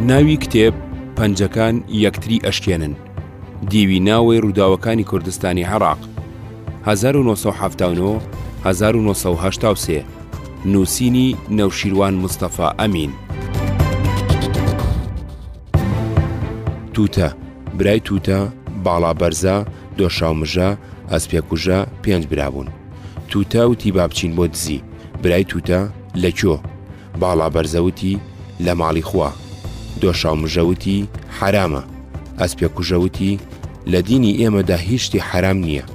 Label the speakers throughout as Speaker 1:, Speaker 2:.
Speaker 1: ناوی کتێب، پەنجەکان یەکتری ئەشکێنن، دیوی ناوەی ڕووداوەکانی کوردستانی عێراق، 1970 1970 نووسینی نەوشیروان مستەفا ئەمین. تووتە، برای تووتە، باڵا بەرزە، دۆشاو مژە، ئەسپێ کوژە، پێنج برا بوون. تووتە وتی با بچین بۆ دزی. برای تووتە، لە کوێ؟ باڵا بەرزە وتی، لە ماڵی خوا. دۆشاو مژە وتی، حەرامە. ئەسپێ کوژە وتی، لە دینی ئێمەدا هیچ شتی حەرام نییە.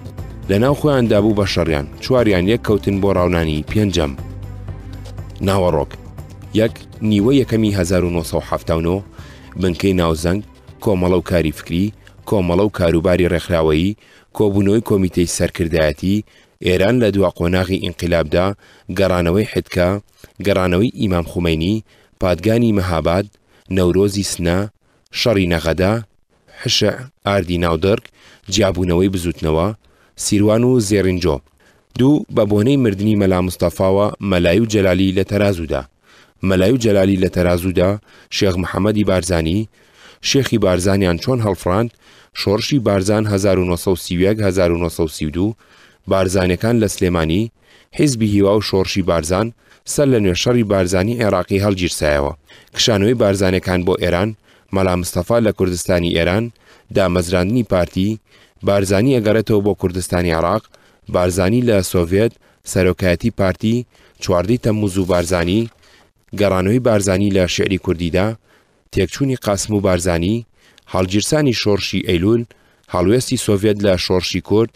Speaker 1: لەناو خۆیاندا بوو بە شەڕیان، چواریان یەک کەوتن بۆ ڕاونانی پێنجەم. ناوەڕۆک. یەک، نیوە یەکەمی هەزار و نۆ سەد و حەفتا و نۆ، بنکەی ناوزەنگ، کۆمەڵە و کاری فکری، کۆمەڵە و کاروباری ڕێکخراوەیی، کۆبوونەوەی کۆمیتەی سەرکردایەتی، ئێران لە دوا قۆناغی ئینقیلابدا، گەڕانەوەی حدکا، گەڕانەوەی ئیمام خومەینی، پادگانی مەهاباد، نەورۆزی سنە، شەڕی نەغەدە، حشع، ئاردی ناودڕک، جیابوونەوەی بزووتنەوە، سیروان و زێڕینجۆ. دوو، بە بۆنەی مردنی مەلا مستەفاوە مەلای و جەلالی لە تەرازوودا. مەلای و جەلالی لە تەرازوودا، شێخ محەمەدی بارزانی، شێخی بارزانیان چۆن هەڵفڕاند، شۆڕشی بارزان هەزار و نۆ سەد و سی و یەک هەزار و نۆ سەد و سی و دوو، بارزانەکان لە سلێمانی، حیزبی هیوا و شۆڕشی بارزان، سەرلەنوێ شەڕی بارزانی عێراقی هەڵگیرسایەوە، کشانەوەی بارزانەکان بۆ ئێران، مەلا مستەفا لە کوردستانی ئێران، دامەزراندنی پارتی، بارزانی ئەگەڕێتەوە بۆ کوردستانی عێڕاق، بارزانی لە سۆڤێت، سەرۆکایەتی پارتی، چواردە ی تەمموز و بارزانی، گەڕانەوەی بارزانی لە شیعری کوردیدا، تێکچوونی قاسم و بارزانی، هەڵگیرسانی شۆڕشی ئەیلوول، هەڵوێستی سۆڤێت لە شۆڕشی کورد،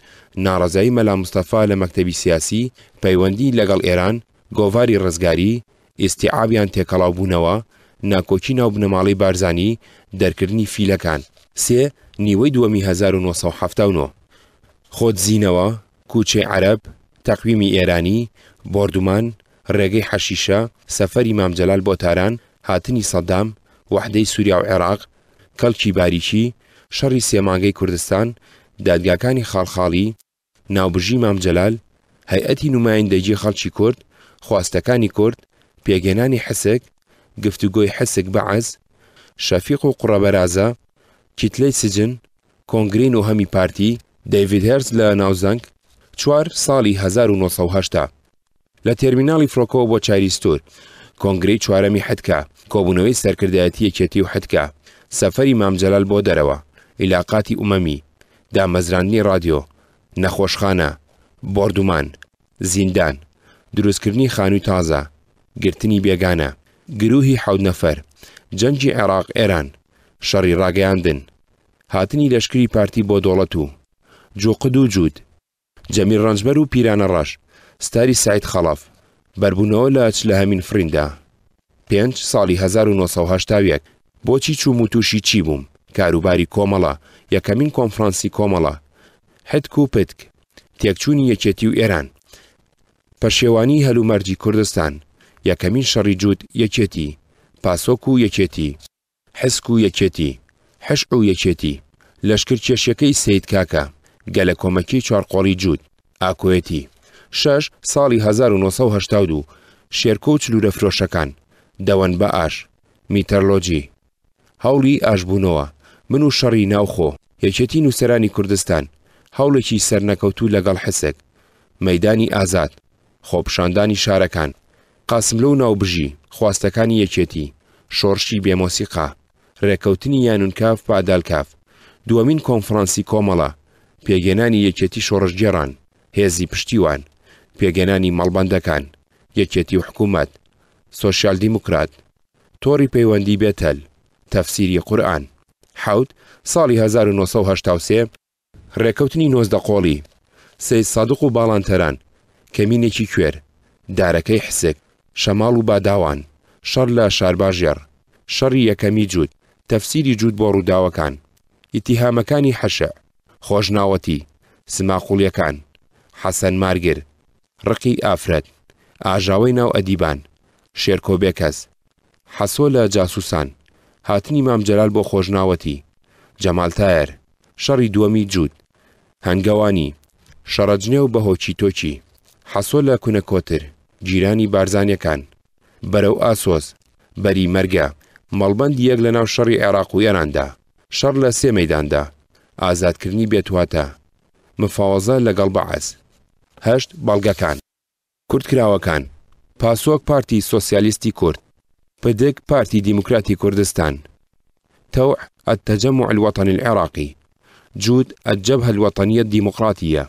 Speaker 1: ناڕەزایی مەلا مستەفا لە مەکتەبی سیاسی، پەیوەندیی لەگەڵ ئێران، گۆڤاری ڕزگاری، ئیستیعابیان تێکەڵاو بوونەوە، ناکۆکی ناو بنەماڵەی بارزانی، دەرکردنی فیلەکان. سێ، نیوەی دووەمی هەزار و نۆ سەد و حەفتا و نۆ، خۆدزینەوە، کوچەی عەرەب، تەقویمی ئێرانی، بۆردومان، ڕێگەی حەشیشە، سەفەری مام جەلال بۆ تاران، هاتنی سەدام، وەحدەی سوریا و عێراق، کەڵکی باریکی، شەڕی سێ مانگەی کوردستان، دادگاکانی خاڵخاڵی، ناوبژی مام جەلال، هەیئەتی نومایندەگی خەڵکی کورد، خواستەکانی کورد، پێکهێنانی حسک، گفتوگۆی حسک بەعس، شەفیق و قڕە بەرازە، کیتلەی سجن، کۆنگرەی نۆهەمی پارتی، دەیڤید هێرس لە ناوزەنگ، چوار، ساڵی هەزار و نۆ سەد و هەشتا. لە تێرمیناڵی فرۆکەوە بۆ چاریستور، کۆنگرەی چوارەمی حدکا، کۆبوونەوەی سەرکردایەتی یەکێتی و حدکا، سەفەری مام جەلال بۆ دەرەوە، ئیلاقاتی ئومەمی، دامەزراندنی ڕادیۆ، نەخۆشخانە، بۆردومان، زیندان، دروستکردنی خانووی تازە، گرتنی بێگانە، گرووهی حەوت نەفەر، جەنگی عێراق ئێران، شەڕی ڕاگەیاندن، هاتنی لەشکری پارتی بۆ دۆڵەت و جوقد و جوود، جەمیل ڕەنجبەر و پیرانە ڕەش، ستاری سەعید خەڵەف، بەربوونەوە لە ئەچ لە هەمین فڕیندا. پێنج، ساڵی هەزار و نۆ سەد و هەشتا و یەک، بۆچی چووم و تووشی چی بووم، کاروباری کۆمەڵە، یەکەمین کۆنفڕانسی کۆمەڵە، حتک و پتک، تێکچوونی یەکێتی و ئێران، پەشێوانیی هەلومەرجی کوردستان، یەکەمین شەڕی جووت، یەکێتی، پاسۆک و یەکێتی، حسک و یەکێتی، حشع و یەکێتی، لەشکر کێشیەکەی سەید کاکە، گەلە کۆمەکی چوار قۆڵی جووت، ئاکۆیەتی، شەش، ساڵی هەزار و نۆ سەد و هەشتا و دوو، شێرکۆ و چلوورە فرۆشەکان، دەوەن بە ئاش، میتەرلۆجی، هەوڵی ئاشبوونەوە، من و شەڕی ناوخۆ، یەکێتی نووسەرانی کوردستان، هەوڵێکی سەرنەکەوتوو لەگەڵ حسک، مەیدانی ئازاد، خۆپیشاندانی شارەکان، قاسملوو و ناوبژی، خواستەکانی یەکێتی، شۆرشی بێ مۆسیقا، رێککەوتنی یانونکاف بادالکاف، دووەمین کۆنفرانسی کۆمەڵە، پێگێنانی یەکێتی شۆڕشگێڕان، هێزی پشتیوان، پێگێنانی مەڵبەندەکان، یەکێتی و حکوومەت، سۆسیال دیموکرات، تۆڕی پەیوەندی بێتەل، تەفسیری قورئان. حەوت، ساڵی هەزار و نۆ سەد و هەشتا و سێ، ڕێکەوتنی نۆزدە قۆڵی، سەید سادق و باڵان تەران، کەمینێکی کوێر، دارەکەی حسک، شەماڵ و باداوان، شەڕ لە شارباژێڕ، شەڕی یەکەمی جووت، تەفسیری جووت بۆ ڕووداوەکان، ئیتیهامەکانی حشع، خۆشناوەتی، سماقوڵیەکان، حەسەن مارگر، ڕقی ئافرەت، ئاژاوەی ناو ئەدیبان، شێرکۆ بێکەس، حەسۆ لە جاسووسان، هاتنی مام جەلال بۆ خۆشناوەتی، جەمال تایەر، شەڕی دووەمی جووت، هەنگەوانی، شەڕەجنێو بە هۆکی تۆکی، حەسۆ لە کونە کۆتر، گیرانی بارزانیەکان، بەرەو ئاسۆس، بەری مەرگە، مەڵبەندی یەک لەناو شەڕی عێراق و ئێراندا، شەڕ لە سێ مەیداندا، ئازادکردنی بێتواتە، مفاوەزە لەگەڵ بەعس. هەشت بەڵگەکان. کورتکراوەکان، پاسۆک پارتی سۆسیالیستی کورد. پدک پارتی دیموکراتی کوردستان. تەوع التجمع الوطنی العراقی. جود الجبهە الوطنیە الدیموقراتیە.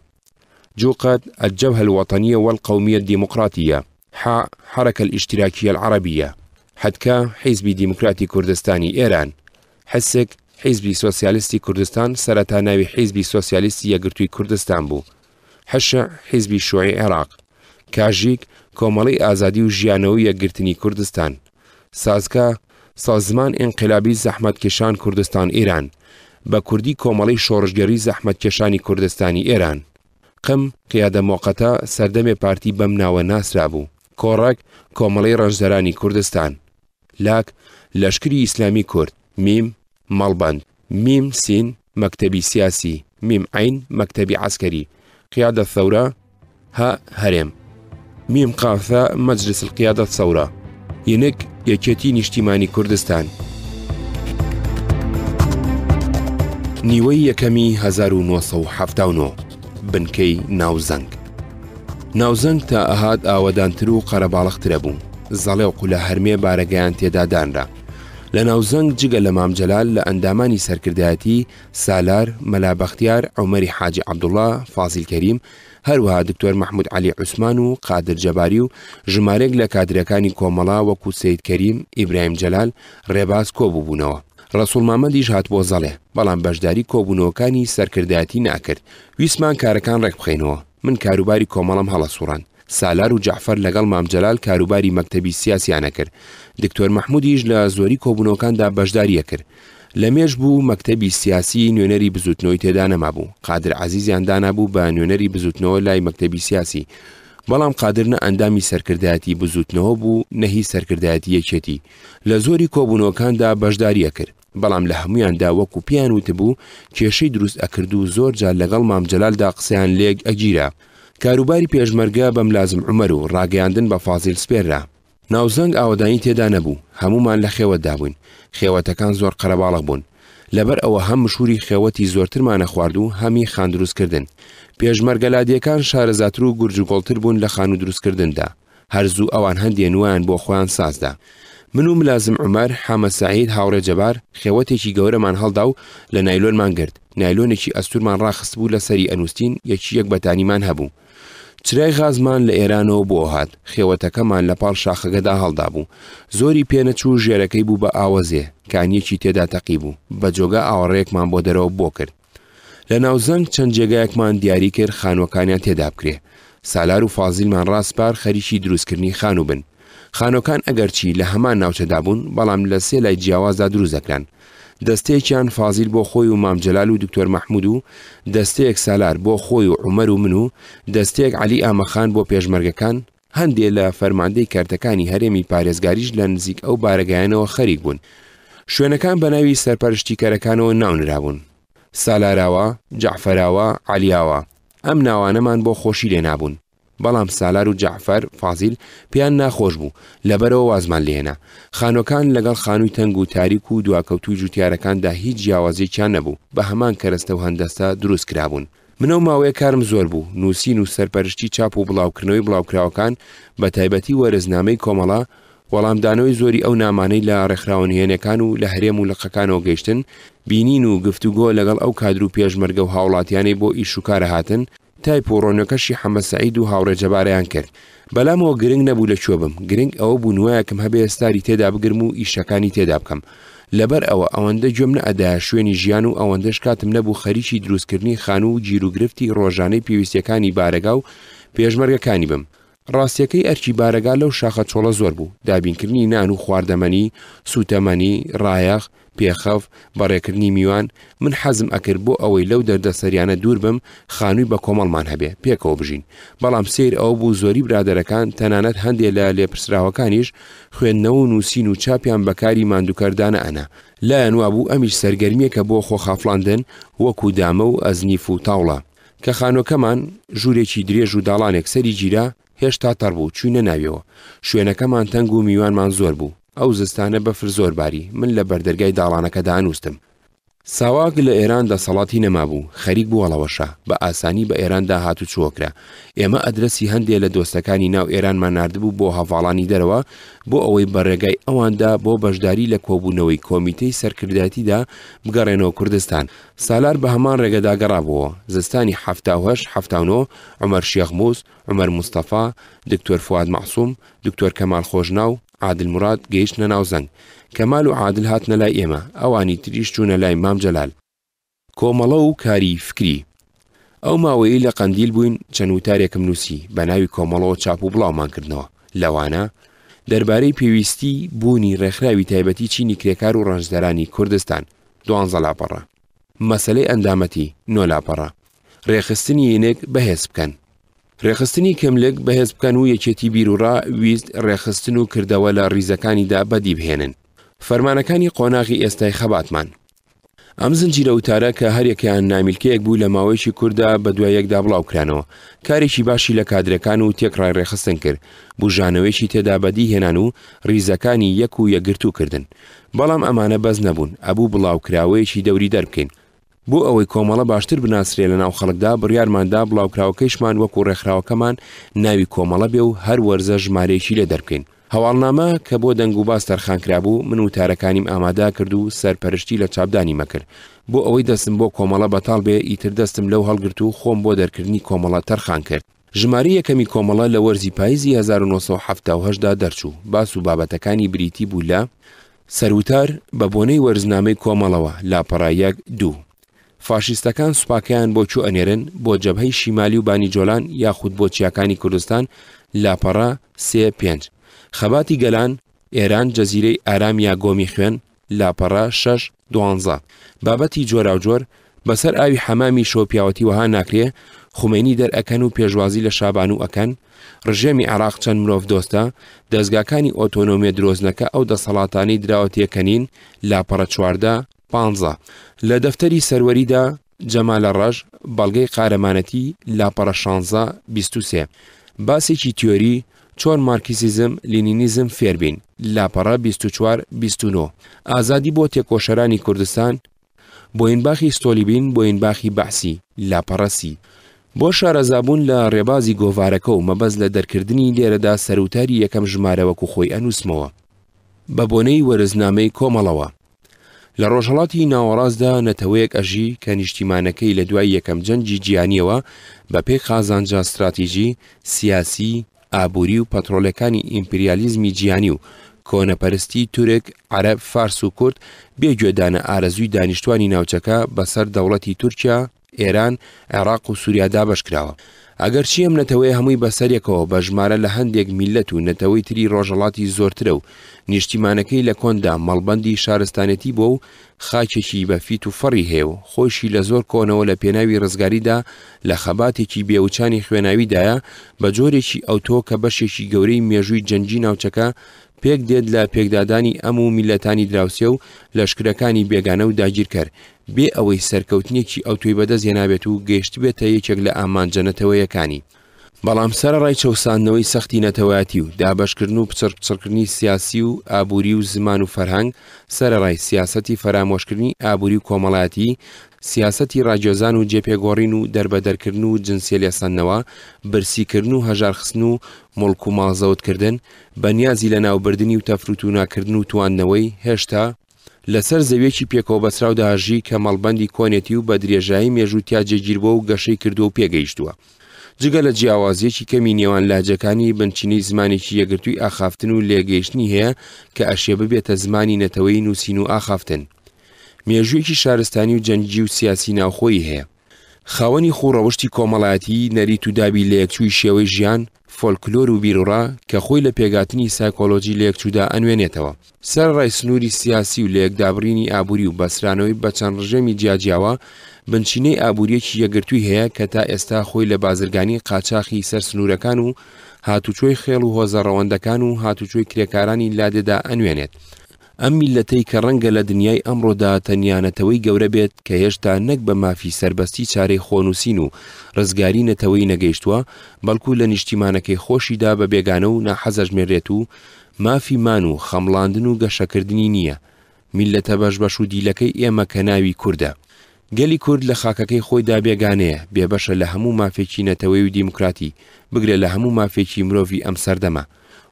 Speaker 1: جوقەد الجبهە الوطنیە والقومیە الدیموقراتیە. حاء حرکە الاشتراکیە العربیە. حدکا حیزبی دیموکراتی کوردستانی ئێران. حسک، حیزبی سۆسیالیستی کوردستان، سەرەتا ناوی حیزبی سۆسیالیستی یەکگرتووی کوردستان بوو. حشع، حیزبی شوعی عێراق. کاژیک، کۆمەڵەی ئازادی و ژیانەوە و یەکگرتنی کوردستان. سازکا، سازمان ئینقلابی زەحمەتکێشان کوردستان ایران، بە کوردی کۆمەڵەی شۆڕشگێڕی زەحمەتکێشانی کوردستانی ئێران. قم، قیادە مۆقەتە، سەردەمێ پارتی بەم ناوە ناسرابوو. کۆڕەک، کۆمەڵەی ڕەنجدەرانی کوردستان. لاک، لەشکری ئیسلامی کورد، میم، مەڵبەند، میم، سین، مەکتەبی سیاسی، میم، عین، مەکتەبی عسکەری، قیادە ثەورە، هە، هەرێم، میم، قافە، مەجلس القیادە ثەورە، ینک، یەکێتی نیشتیمانی کوردستان. نیوەی یەکەمی هەزار و نۆ سەد و حەفتا و نۆ، بنکەی ناوزەنگ. ناوزەنگ تا ئەهات ئاوەدانتر و قەرەباڵغترە بوو، زەڵێ و قولە هەرمێ بارەگایان تێدا دانرا. لە ناوزەنگ جگە لە مام جەلال لە ئەندامانی سەرکردایەتی، سالار، مەلا بەختیار، عومەری حاجی عەبدوڵا، فازیل کەریم، هەروەها دکتۆر مەحمود عەلی عوسمان و قادر جەباری و ژمارێک لە کادرەکانی کۆمەڵە وەکوو سەید کەریم، ئیبراهیم جەلال، ڕێباز کۆ بووبوونەوە. ڕەسووڵ مامەدیش هاتبووە زەڵێ، بەڵام بەشداری کۆبوونەوەکانی سەرکردایەتی نەئەکرد. ویستمان کارەکان ڕێک بخەینەوە. من کاروباری کۆمەڵەم هەڵەسوڕاند سالار و جەعفەر لەگەڵ مام جەلال کاروباری مەکتەبی سیاسیان ئەکرد دکتۆر مەحمودیش لە زۆری کۆبونەوەکاندا بەشداری ئەکرد لە مێژ بوو مەکتەبی سیاسی نوێنەری بزوتنەوەی تێدا نەمابوو قادر عەزیزیان دانابوو بە نوێنەری بزوتنەوە لای مەکتەبی سیاسی بەڵام قادر نە ئەندامی سەرکردایەتی بزوتنەوە بوو نە هی سەرکردایەتی یەکێتی لە زۆری کۆبونەوەکاندا بەشداری ئەکرد بەڵام لە هەموویاندا وەکو پێیان وتبوو کێشەی دروست ئەکرد و زۆر جار لەگەڵ مام جەلالدا قسەیان لێک ئەگیرا. کاروباری پێشمەرگە بە ملازم عومەر و ڕاگەیاندن بە فازیل سپێررا. ناوزەنگ ئاوەدانی تێدا نەبوو، هەموومان لە خێوەتدا بووین، خێوەتەکان زۆر قەرەباڵغ بوون. لەبەر ئەوە هەم مشووری خێوەتی زۆرترمان ئەخوارد و هەم ی خان دروستکردن. پێشمەرگە لادێکان شارەزاتر و گورج و گۆڵتر بوون لە خانوو دروستکردندا. هەر زوو ئەوان هەندێ نوایان بۆ خۆیان ساز دا. من و ملازم عومەر، حامە سەعید، هاوڕێ جەبار، خێوەتێکی گەورەمان هەڵدا و لە نایلۆنمان گرت، نایلۆنێکی ئەستوورمان ڕاخستبوو لە سەری ئەنووستین، یەکی یەک بەتانیمان هەبوو. چرای غازمان لە ئێرانەوە بۆ هات، خێوەتەکەمان لە پاڵ شاخەکەدا هەڵدابوو. زۆری پێ نەچوو ژێرەکەی بوو بە ئاوەزێ، کانییەکی تێدا تەقیبوو، بە جۆگە ئاوەڕێیەکمان بۆ دەرەوە بۆ کرد. لە ناوزەنگ چەند جێگایەکمان دیاری کرد خانوەکانیان تێدا بکرێ سالار و فازیلمان ڕاستپار خەریکی دروستکردنی خانوو بن خانۆکان ئەگەرچی لە هەمان ناوچەدا بوون بەڵام لە سێ لای جیاوازدا دروست دەکران دەستەیەکیان فازیل بۆ خۆی و مامجلال و دکتۆر مححمود و دەستەیەک سالار بۆ خۆی و عمەر و من و دەستەیەک علی ئامەخان بۆ پێشمەرگەکان هەندێ لە فەرماندەی کەرتەکانی هەرێمی پارێزگاریش لە نزیک ئەو بارەگایانەوە خەریک بوون. شوێنەکان بە ناوی سەرپەرشتیکەرەکانەوە ناونرابوون. سالاراوا، جەعفەراوا، عەلیاوا. ئەم ناوانەمان بۆ خۆشی لێ نابوون. بەڵام سالار و جەعفەر، فازیل، پێیان ناخۆش بوو، لەبەرەوە وازمان لێ هێنا. خانووەکان لەگەڵ خانووی تەنگ و تاریک و دواکەوتووی جووتیارەکاندا هیچ جیاوازییەکیان نەبوو، بە هەمان کەرەستە و هەندەسە دروست کرابوون. من ئەو ماوەیە کارم زۆر بوو، نووسین و سەرپەرشتی چاپ و بڵاوکردنەوەی بڵاوکراوەکان، بەتایبەتی وەرزنامەی کۆمەڵە، وەڵامدانەوەی زۆری ئەو نامانەی لە ڕێکخراوە نهێنێکان و لە هەرێم و لقەکانەوە گەیشتن، بینین و گفتوگۆ لەگەڵ ئەو کادر و پێشمەرگە و هاوڵاتیانەی بۆ ئیش و کارە هاتن، تایپ و ڕۆنۆکەشی حەمە سەعید و هاوڕێ جەبارەیان کرد، بەلام ئەوە گرنگ نەبوو لە کوێ بم گرنگ ئەوە بوو نوایەکم هەبێ ستاری تێدا بگرم و ئیشەکانی تێدا بکەم لەبەر ئەوە ئەوەندە گوێم نەئەدایە شوێنی ژیان و ئەوەندەش کاتم نەبوو خەریکی دروستکردنی خانوو و گیروگرفتی ڕۆژانەی پێویستیەکانی بارەگا و پێشمەرگەکانی بم ڕاستیەکەی ئەرکی بارەگا لەو شاخە چۆڵە زۆر بوو دابینکردنی نان و خواردەمەنی سوتەمەنی ڕایەخ پێخەف، بە رێکردنی میوان، من حەزم ئەکرد بۆ ئەوەی لەو دەردەسەریانە دوور بم خانووی بە کۆمەڵمان هەبێ پێکەوە بژین، بەڵام سەیر ئەوە بوو زۆری برادەرەکان تەنانەت هەندێ لە لێپرسراوەکانیش خوێندنەوە و نووسین و چاپیان بە کاری ماندووکەر دانەئەنا، لایان وابوو ئەمیش سەرگەرمییەکە بۆ خۆخافڵاندن وەکوو دامە و ئەزنیف و تاوڵە. کە خانووەکەمان ژوورێکی درێژ و داڵانێک سەری گیرا، هێشتا تەڕ بوو، چووینە ناویەوە. شوێنەکەمان تەنگ و میوانمان زۆر بوو. ئەو زستانە بەفر زۆر باری، من لە بەردەرگای داڵانەکە دانووستم. ساواک لە ئێران دەسەڵاتی نەمابوو، خەریک بوو هەڵەوەشە، بە ئاسانی بە ئێراندا هاتوچۆ کرا. ئێمە ئەدرەسی هەندێ لە دۆستەکانی ناو ئێرانمان ناردبوو بۆ هەڤاڵانی دەرەوە، بۆ ئەوەی بە رێگای ئەواندا بۆ بەشداری لە کۆبوونەوەی کۆمیتەی سەرکردایەتیدا بگەڕێنەوە کوردستان. سالار بە هەمان رێگەدا گەڕابۆوە. زستانی حەفتا و هەشت، حەفتا و نۆ، عومەر شێخ موس، عومەر مستەفا، دکتۆر فواد مەعسوم، دکتۆر کەمال خۆشناو، عادل مراد گەیشتنە ناو زەنگ. کەمال و عادل هاتنە لای ئێمە، ئەوانی تریش چوونە لای مام جەلال. کۆمەڵە و کاری فکری. ئەو ماوەیەی لە قەندیل بووین چەند وتارێکم نووسی، بە ناوی کۆمەڵەوە چاپ و بڵاومان کردنەوە، لەوانە، دەربارەی پێویستیی بوونی ڕێکخراوی تایبەتی چینی کرێکار و ڕەنجدەرانی کوردستان، دوانزە لاپەڕە. مەسەلەی ئەندامەتی نۆ لاپەڕە. رێکخستنی ینک بەهێز بکەن. رێکخستنی کملک بەهێز بکەن و یەکێتی بیروڕا، ویست، رێکخستن و کردەوە لە ریزەکانیدا بەدی بهێنن. فەرمانەکانی قۆناغی ئێستای خەباتمان. ئەم زنجیرە وتارە کە هەریەکەیان نامیلکەیەک بوو لە ماوەیەکی کورتدا بەدوای یەکدا بڵاوکرانەوە، کارێکی باشی لە کادرەکان و تێکڕای رێکخستن کرد، بوژانەوەیەکی تێدا بەدی هێنان و ریزەکانی یەک و یەکگرتوو کردن. بەڵام ئەمانە بەس نەبوون ئەبوو بڵاوکراوەیەکی دەوری دەربکەین بۆ ئەوەی کۆمەڵە باشتر بناسرێ لە ناو خەڵکدا بڕیارمان دا بڵاوکراوەکەیشمان وەکو ڕێکخراوەکەمان ناوی کۆمەڵە بێ و هەر وەرزە ژمارەیەکی لێ دەربکەین هەواڵنامە کە بۆ دەنگوباس تەرخان کرابوو من وتارەکانیم ئامادا کرد و سەرپەرشتی لە چاپدانی مەکرد بۆ ئەوەی دەستم بۆ کۆمەڵە بەتاڵ بێ ئیتر دەستم لەو هەڵگرت و خۆم بۆ دەرکردنی کۆمەڵە تەرخان کرد. ژمارەی یەکەمی کۆمەڵە لە وەرزی پایزی هەزار و نۆ سەد و حەفتا و هەشت دا دەرچوو، باس و بابەتەکانی بریتی بوو لە، سەروتار، بە بۆنەی وەرزنامەی کۆمەڵەوە، لاپەڕە یەک، دوو. فاشیستەکان سوپاکەیان بۆ کوو ئەنێرن، بۆ جەبهەی شیمالی و بانی جۆلان یاخود بۆ چیاکانی کوردستان، لاپەڕە، سێ، پێنج. خەباتی گەلان، ئێران، جەزیرەی ئارام یا گۆمی خوێن، لاپەڕە شەش دوانزە، بابەتی جۆراوجۆر، بەسەر ئاوی حەمامی شەو پیاوەتی وەها ناکرێ، خومەینی دەر ئەکەن و پێشوازی لە شابانوو ئەکەن، ڕژێمی عێڕاق چەند مرۆڤ دۆستە، دەزگاکانی ئۆتۆنۆمیە درۆزنەکە ئەو دەسەڵاتانەی دراوە تێکەنین، لاپەڕە چواردە، پانزە، لە دەفتەری سەروەریدا، جەمالە ڕەش، بەڵگەی قارەمانەتی، لاپەڕە شانزە، بیست و سێ. باسێکی تیۆری، چۆن مارکسیزم، لینینیزم فێر بین، لاپەڕە بیست و چوار، بیست و نۆ. ئازادی بۆ تێکۆشەرانی کوردستان، بۆینباخی ستۆلیبین، بۆینباخی بەعسی، لاپەڕە سی. بۆ شارەزابوون لە ڕێبازی گۆڤارەکە و مەبەست لە دەرکردنی لێرەدا سەروتاری یەکەم ژمارە وەکو خۆی ئەنووسمەوە بە بۆنەی وەرزنامەی کۆمەڵەوە. لە ڕۆژهەڵاتی ناوەڕاستدا نەتەوەیەک ئەژی کە نیشتیمانەکەی لە دوای یەکەم جەنگی جیهانیەوە بە پێی قازانجە ستراتیجی، سیاسی، ئابووری و پەترۆلەکانی ئیمپریالیزمی جیهانی و کۆنەپەرستی تورک، عەرەب، فارس و کورد بێ گوێدانە ئارەزووی دانیشتوانی ناوچەکە بەسەر دەوڵەتی تورکیا ئێران، عێراق و سوریا دابەش کراوە. ئەگەرچی ئەم نەتەوەیە هەمووی بەسەریەکەوە بە ژمارە لە هەندێک میللەت و نەتەوەی تری ڕۆژهەڵاتی زۆرترە و نیشتیمانەکەی لە کۆندا مەڵبەندی شارستانێتی بووە و خاکێکی بە فیت و فەڕی هەیە و خۆیشی لە زۆر کۆنەوە لە پێناوی ڕزگاریدا لە خەباتێکی بێ وچانی خوێناویدایە بە جۆرێکی ئەوتۆ کە بەشێکی گەورەی مێژووی جەنگی ناوچەکە پێک دێت لە پێکدادانی ئەم و میللەتانی دراوسێ و لەشکرەکانی بێگانە و داگیرکەر بێ ئەوەی سەرکەوتنێکی ئەوتۆی بەدەست هێنابێت و گەیشتبێتە یەکێک لە ئامانجە نەتەوەیەکانی، بەڵام سەرەڕای چەوساندنەوەی سەختی نەتەوایەتی و دابەشکردن و پچڕ پچڕکردنی سیاسی و ئابووری و زمان و فەرهەنگ، سەرەڕای سیاسەتی فەرامۆشکردنی ئابووری و کۆمەڵایەتی، سیاسەتی ڕاگوێزان و جێپێگۆڕین و دەربەدەرکردن و جنسیە لێسەندنەوە، برسیکردن و هەژارخستن و موڵک و ماڵ زەوتکردن، بەنیازی لەناوبردنی و تەفروتوناکردن و تواندنەوەی، هێشتا، لەسەر زەویەکی پێکەوەبەستراودا ژی کە مەڵبەندی کۆنێتی و بە درێژایی مێژوو تیا جێگیربووە و گەشەی کردووە و پێگەیشتووە. جگە لە جیاوازییەکی کەمی نێوان لەهجەکانی، بنچینەی زمانێکی یەکگرتووی ئاخافتن و لێکگەیشتنی هەیە کە ئەشێ ببێتە زمانی نەتەوەیی نووسین و ئاخافتن. مێژوویەکی شارستانی و جەنگی و سیاسی ناوخۆیی هەیە. خاوەنی خوو ڕەوشتی کۆمەڵایەتی، نەریت و دابی لەیەکچووی شێوەی ژیان، فۆلکلۆر و بیروڕا کە خۆی لە پێکهاتنی سایکۆلۆژی لەیەکچوودا ئەنوێنێتەوە. سەرەڕای سنووری سیاسی و لەیەکدابڕینی ئابووری و بەسترانەوەی بە چەند ڕژێمی جیاجیاوە، بنچینەی ئابوورییەکی یەکگرتووی هەیە کە تا ئێستا خۆی لە بازرگانی قاچاخی سەر سنوورەکان و هاتوچۆی خێڵ و هۆزە ڕەوەندەکان و هاتوچۆی کرێکارانی لادێدا ئەنوێنێت. ئەم میللەتەی کە ڕەنگە لە دنیای ئەمڕۆدا تەنیا نەتەوەی گەورە بێت کە هێشتا نەک بە مافی سەربەستی چارەی خۆنووسین و ڕزگاری نەتەوەی نەگەیشتووە بەڵکوو لە نیشتیمانەکەی خۆشیدا بە بێگانە و ناحەزەژمێرێت و مافی مان و خەمڵاندن و گەشەکردنی نییە، میللەتە بەشبەش و دیلەکەی ئێمە کە ناوی کوردە. گەلی کورد لە خاکەکەی خۆیدا بێگانەیە، بێبەشە لە هەموو مافێکی نەتەوەی و دیموکراتی، بگرە لە هەموو مافێکی مرۆڤی ئەم سەردەمە.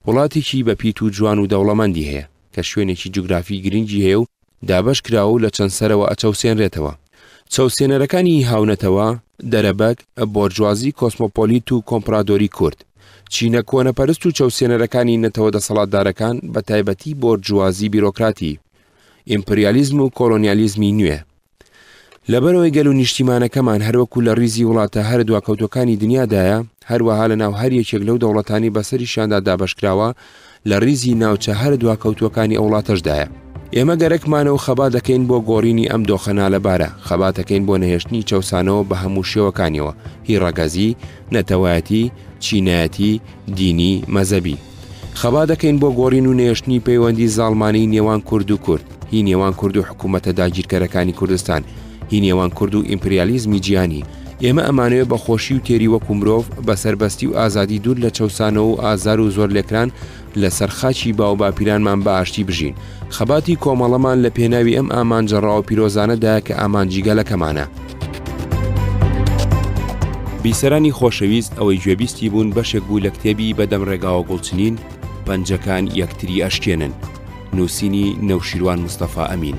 Speaker 1: وڵاتێکی بە پیت و جوان و دەوڵەمەندی هەیە، کە شوێنێکی جوگرافی گرنگی هەیە و دابەش کراوە و لە چەند سەرەوە ئەچەوسێنرێتەوە. چەوسێنەرەکانی هاونەتەوە، دەرەبەگ، بۆرجوازی کۆسمۆپۆلیت و کۆمپرادۆری کورد. چینە کۆنەپەرست و چەوسێنەرەکانی نەتەوە دەسەڵاتدارەکان، بە تایبەتی بۆرجوازی بیرۆکراتی. ئیمپریالیزم و کۆلۆنیالیزمی نوێ. لەبەرەوەی گەل و نیشتیمانەکەمان هەروەکو لە ریزی وڵاتە هەرە دواکەوتوەکانی دنیادایە، هەروەها لە ناو هەر یەکێک لەو دەوڵەتانی بەسەریشیاندا دابەشکراوە لە ریزی ناوچە هەرە دواکەوتوەکانی ئەوڵاتەشدایە. ئێمە گەرەکمانە و خەبات دەکەین بۆ گۆرینی ئەم دۆخە نالەبارە، خەباتەکەین بۆ نەهێشتنی چەوسانەوە بە هەموو شێوەکانیەوە، هی رەگەزی، نەتەوایەتی، چینایەتی، دینی، مەزەبی. خەبا دەکەین بۆ گۆڕین و نەهێشتنی پەیوەندی زاڵمانەی نێوان کورد و کورد، هی نێوان کورد و حکوومەتە داگیرکەرەکانی کوردستان، هی نێوان کورد و ئیمپریالیزمی جیهانی، ئێمە ئەمانەوێ بە خۆشی و تێری وەکوو مرۆڤ، بە سەربەستی و ئازادی دوور لە چەوسانەوە و ئازار و زۆرلێکران لە سەر خاکی باوباپیرانمان بە ئاشتی بژین. خەباتی کۆمەڵەمان لە پێناوی ئەم ئامانجە ڕاو و پیرۆزانەدایە کە ئامانجی گەلەکەمانە. بیسەرانی خۆشەویست ئەوەی گوێبیستی بوون بەشێک بوو لە کتێبی بەدەم ڕێگاوە گوڵ چنین، پەنجەکان یەکتری ئەشکێنن، نووسینی نەوشیروان مستەفا ئەمین.